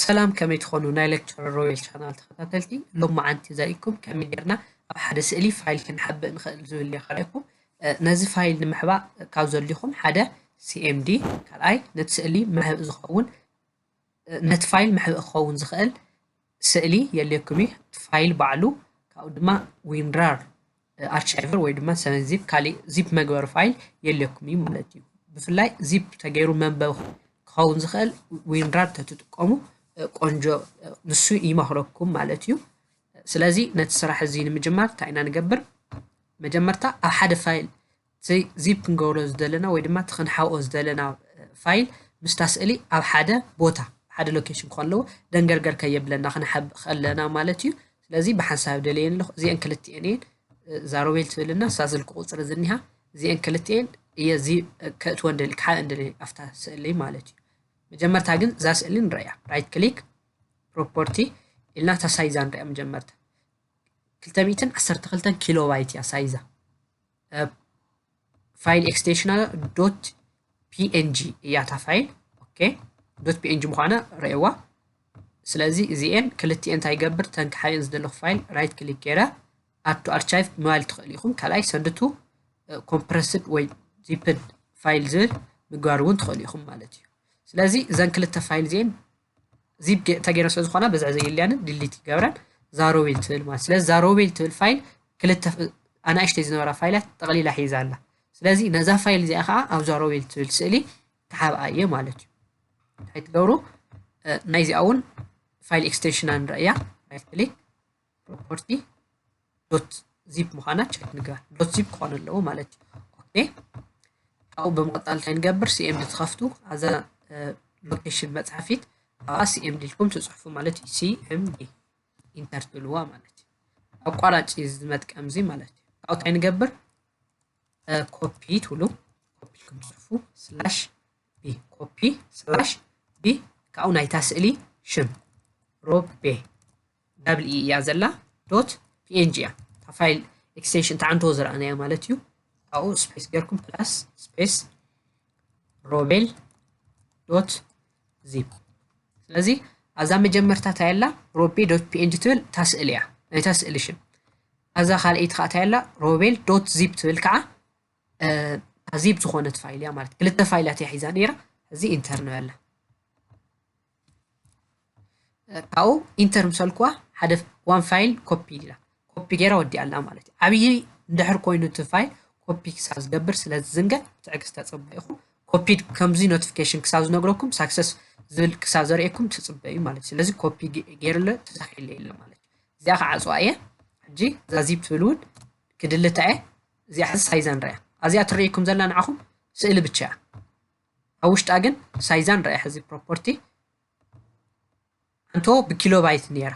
ሰላም ከመይ ትኾኑ ናይ ሌክቸረር ሮቤል ቻናል ተኸታተልቲ ሎማዓንቲ ዘሪእኩም ከመይ ጌርና ኣብ ሓደ ስእሊ ፋይል ክንሓብእ ንኽእል ዝብል እየ ካሪኣኩም ነዚ ፋይል ንምሕባእ ካብ ዘድልዩኹም ሓደ ሲኤምዲ ካልኣይ ነቲ ስእሊ መሕብእ ዝኸውን ነቲ ፋይል መሕብእ ክኸውን ዝኽእል ስእሊ የድልየኩም እዩ፣ እቲ ፋይል ባዕሉ፣ ካብኡ ድማ ዊንራር ኣርቻይቨር ወይ ድማ ሰቨን ዚፕ ካሊእ ዚፕ መግበሪ ፋይል የድልየኩም እዩ ማለት እዩ። ብፍላይ ዚፕ ተገይሩ መንበቢ ክኸውን ዝኽእል ዊንራር ተትጥቀሙ ቆንጆ ንሱ ይመኽረኩም ማለት እዩ። ስለዚ ነቲ ስራሕ እዚ ንምጅማር እንታይ ኢና ንገብር? መጀመርታ ኣብ ሓደ ፋይል እቲ ዚፕ ክንገብሮ ዝደለና ወይ ድማ እቲ ክንሓብኦ ዝደለና ፋይል ምስታ ስእሊ ኣብ ሓደ ቦታ ሓደ ሎኬሽን ክኾን ኣለዎ ደንገርገር ከየብለና ክንሓብእ ከለና ማለት እዩ ስለዚ ብሓንሳብ ደልየን ኣለኹ እዚአን ክልቲኤን እየን እዛ ሮቤል ትብልና እሳ ስልኪ ቁፅሪ ዝኒሃ እዚአን ክልቲኤን እየ እዚ ከእትወን ደሊ ክሓእን ደሊ ኣብታ ስእሊ ማለት እዩ መጀመርታ ግን እዛ ስእሊ ንረእያ ራይት ክሊክ ፕሮፖርቲ ኢልና እታ ሳይዛ ንሪኣ መጀመርታ ክልተ ሚእትን ዓሰርተ ክልተን ኪሎ ባይት እያ ሳይዛ ፋይል ኤክስቴንሽና ዶት ፒኤንጂ እያ እታ ፋይል ኦኬ ዶት ፒኤንጂ ምዃና ረእዋ ስለዚ እዚኤን ክልቲኤን እንታይ ይገብር ተን ክሓየን ዝደለኹ ፋይል ራይት ክሊክ ገይረ ኣቱ ኣርቻይቭ ምባል ትኽእል ኢኹም ካልኣይ ሰንድቱ ኮምፕረስድ ወይ ዚፕድ ፋይል ዝብል ምግባር እውን ትኽእሉ ኢኹም ማለት እዩ ስለዚ እዘን ክልተ ፋይል እዚኤን ዚፕ ተገይረ ስለ ዝኾና ብዝዕ ዘይልያንን ድሊት ይገብረን ዛሮቤል ትብል ማለት ስለዚ ዛሮቤል ትብል ፋይል ክልተ ኣናእሽተይ ዝነበራ ፋይላት ጠቕሊላ ሒዛ ኣላ ስለዚ ነዛ ፋይል እዚኣ ከዓ ኣብ ዛሮቤል ትብል ስእሊ ክሓብኣ እየ ማለት እዩ እንታይ ትገብሩ ናይዚኣ እውን ፋይል ኤክስቴንሽና ንርእያ ራይት ክሊክ ፕሮፐርቲ ዶት ዚፕ ምዃና ቸክ ንግበር ዶት ዚፕ ክኾን ኣለዎ ማለት እዩ ኦኬ ካብኡ ብምቕጣል እንታይ ንገብር ሲኤምዲ ትኸፍቱ ኣዛ ሎኬሽን መፅሓፊት ኣብኣ ሲኤምዲ ኢልኩም ትፅሕፉ ማለት እዩ ሲኤምዲ ኢንተር ትብልዋ ማለት እዩ ኣቋራጭ እዚ መጥቀም እዚ ማለት እዩ ካብኡ እንታይ ንገብር ኮፒ ትብሉ ኮፒ ኢልኩም ትፅሕፉ ስላሽ ቢ ኮፒ ስላሽ ቢ ካብኡ ናይታ ስእሊ ሽም ሮቤ ዳብል ኢ እያ ዘላ ዶት ፒኤንጂ እያ እታ ፋይል ኤክስቴንሽን ተዓንድዎ ዝረኣናዮ ማለት እዩ ካብኡ ስፔስ ጌርኩም ፕላስ ስፔስ ሮቤል ዶት ዚፕ ስለዚ ኣዛ መጀመርታ እንታይ ኣላ ሮቤ ዶት ፒኤንጂ ትብል እታ ስእሊ እያ ናይታ ስእሊ ሽም ኣዛ ካልኣይቲ ከዓ እንታይ ኣላ ሮቤል ዶት ዚፕ ትብል ከዓ ዚፕ ዝኾነት ፋይል እያ ማለት ክልተ ፋይላት እያ ሒዛ ነይራ እዚ ኢንተር ንበላ ካብኡ ኢንተር ምስ በልክዋ ሓደ ዋን ፋይል ኮፒ ኢላ ኮፒ ገይራ ወዲኣ ኣላ ማለት እዩ ዓብዪ እንድሕር ኮይኑ እቲ ፋይል ኮፒ ክሳብ ዝገብር ስለ ዝዝንገዕ ትዕግስቲ ተፀበዩ ኢኹም ኮፒድ ከምዚ ኖቲፊኬሽን ክሳብ ዝነግረኩም ሳክሰስ ዝብል ክሳብ ዘርእየኩም ትፅበዩ ማለት እዩ ስለዚ ኮፒ ገይርለ ተሳኺለ የለ ማለት እዩ እዚኣ ክዓፅዋ እየ ሕጂ እዛ ዚፕ ትብል እውን ክድልታ እየ እዚኣ ሕዚ ሳይዛ ንሪኣ ኣዚኣ ትርእይኩም ዘላ ንዓኹም ስእሊ ብቻ እያ ኣብ ውሽጣ ግን ሳይዛን ራእይ ሕዚ ፕሮፖርቲ ኣንቶ ብኪሎባይት ነይራ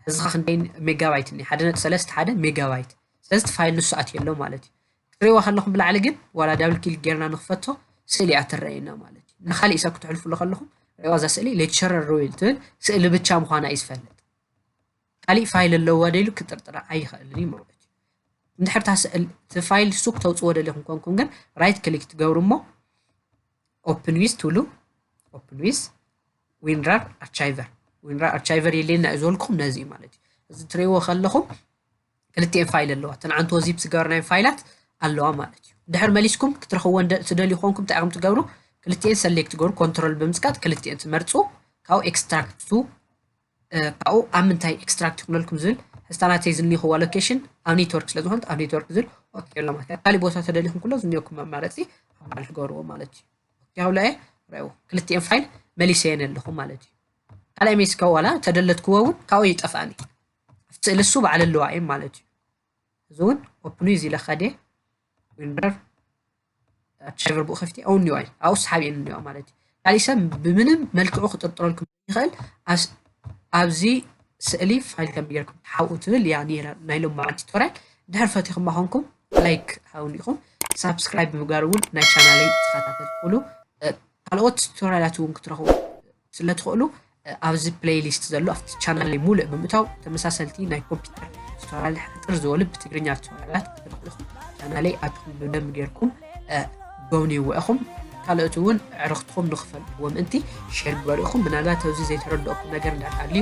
ሕዚ ኸ ክንደይ ሜጋባይት እኒ ሓደ ነጥ ሰለስተ ሓደ ሜጋባይት ስለዚ እቲ ፋይል ንሱ ኣትየ ኣሎ ማለት እዩ ክትሪእዋ ከለኹም ብላዕሊ ግን ዋላ ዳብል ኪል ጌርና ንክፈቶ ስእሊ እያ ትረኣየና ማለት እዩ ንካሊእ ሰብ ክትሕልፍሉ ከለኹም ሪእዋ እዛ ስእሊ ሌክቸረር ሮይል ትብል ስእሊ ብቻ ምዃና እዩ ዝፈልጥ ካሊእ ፋይል ኣለዋ ደሉ ክጥርጥራ ኣይኸእልን እዩ ማለት እዩ እንድሕር እቲ ፋይል ሱቅ ተውፅዎ ደለኹም ኮንኩም ግን ራይት ክሊክ ትገብሩ እሞ ኦፕን ዊዝ ትብሉ ኦፕን ዊዝ ዊንራር ኣርቻይቨር ዊንራር ኣርቻይቨር የለየና እዩ ዝበልኩም ነዚ እዩ ማለት እዩ እዚ ትሪእዎ ከለኹም ክልቲኤን ፋይል ኣለዋ እተን ዓንቶ ዚፕ ዝገበርናየን ፋይላት ኣለዋ ማለት እዩ ድሕር መሊስኩም ክትረኽብዎ ትደልዩ ኮንኩም እንታይ ኢኹም ትገብሩ ክልቲኤን ሰሌክት ትገብሩ ኮንትሮል ብምፅቃጥ ክልቲኤን ትመርፁ ካብኡ ኤክስትራክት ቱ ካብኡ ኣብ ምንታይ ኤክስትራክት ይኹነልኩም ዝብል ሕዝታ ናተይ ዝኒኹዋ ሎኬሽን ኣብ ኔትወርክ ስለ ዝኾነት ኣብ ኔትወርክ ዝብል ኦኬ ኣሎ ማለት እዩ ካሊእ ቦታ ተደሊኹም ኩሎ ዝኒኦኩም መማረፂ ኣብ ማል ክገብርዎ ማለት እዩ ኦኬ ኣብላ እየ ረእዎ ክልቲኤን ፋይል መሊሰየን ኣለኹ ማለት እዩ ካልኣይ ሜስ ከዋላ ተደለትክዎ እውን ካብኡ ይጠፍኣኒ ኣብቲ ስእሊ እሱ ባዕለ ኣለዋ እየን ማለት እዩ እዚ እውን ኦፕኑ እዩ ዝኢለካ ድየ ዊንበር ኣሻገር ብኡ ከፍቲ ኣው ኒዋይ ኣውስ ሓቢኤን ኒዋ ማለት እዩ ካልእ ሰብ ብምንም መልክዑ ክጥርጥረልኩም ይኽእል ኣብዚ ስእሊ ፋይል ከም ጌርኩም ትሓብኡ ትብል እያ ነይራ ናይ ሎማዓን ቱቶሪያል ድሕር ፈቲኹማ ኮንኩም ላይክ ሃውን ኢኹም ሳብስክራይብ ብምግባር እውን ናይ ቻናለይ ተኸታተል ትኽእሉ ካልኦት ቱቶሪያላት እውን ክትረኽቡ ስለ ትኽእሉ ኣብዚ ፕለይሊስት ዘሎ ኣብቲ ቻናለይ ሙሉእ ብምእታው ተመሳሰልቲ ናይ ኮምፒውተር ቱቶሪያል ሕጥር ዝበሉ ብትግርኛ ቱቶሪያላት ክትረኽቡ ኢኹም ቻናለይ ኣትኹም ብደም ጌርኩም ጎብንይዎ ኢኹም ካልኦት እውን ዕርኽትኹም ንክፈልጥዎ ምእንቲ ሼር ግበሩ ኢኹም ምናልባት ኣብዚ ዘይተረድኦኩም ነገር እንዳሃልዩ